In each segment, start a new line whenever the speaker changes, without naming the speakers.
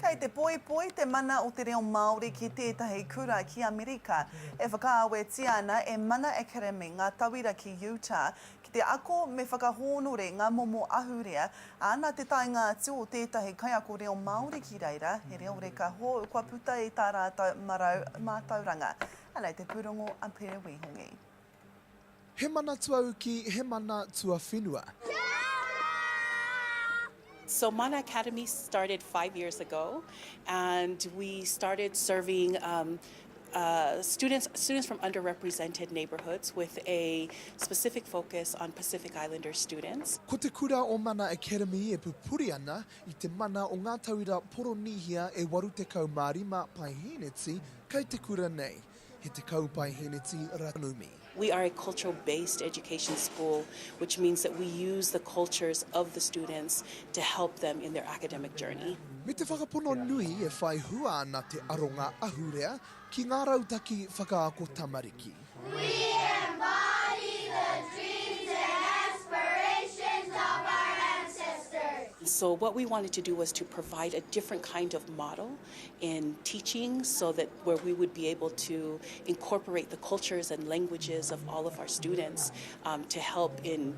Kei te poipoi te mana o te reo Māori ki tētahi kura ki Amerika. E whakaawetia ana e Mana Academy ngā tauira ki Utah ki te ako me whakahōnore ngā momo ahurea, ā, nā te taenga atu o tētahi kaiako reo Māori ki reira, he reo reka hou kua puta i tā rātou marau mātauranga. Anei te pūrongo a Pere Wīhongi. He mana tuauki, he mana tuawhenua. Kia ora! So Mana Academy started five years ago and we started serving students students from underrepresented neighbourhoods with a specific focus on Pacific Islander students. Ko te kura o Mana Academy e pupuri ana i te mana o ngā tauira Poronīhia e 85 paeheneti kei te kura nei. He tekau paeheneti ranumi. We are a cultural based education school which means that we use the cultures of the students to help them in their academic journey. Me te whakapono nui e whai hua ana te aronga ahurea ki ngā rautaki whakaako tamariki. We embody the dreams and aspirations of our ancestors. So what we wanted to do was to provide a different kind of model and teaching so that where we would be able to incorporate the cultures and languages of all of our students um, to help in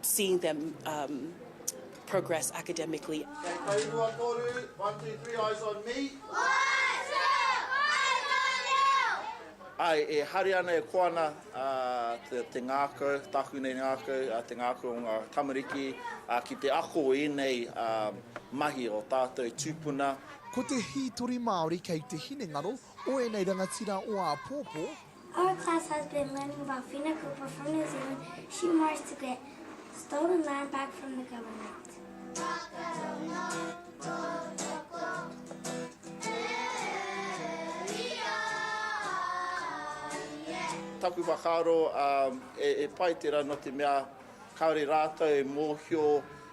seeing them um, progress academically. Ai, e hari ana e koana uh, te, te ngākau, tāku nei ngākau, uh, te ngākau o ngā tamariki uh, ki te ako i nei uh, mahi o tātou tūpuna. Ko te hītori Māori kei te hinengaro o ēnei rangatira o āpōpō. Our class has been learning about Whina Cooper from New Zealand, she marched to get stolen land back from the government. Taku whakaaro, e pai tera no te mea kaore ratou e mohio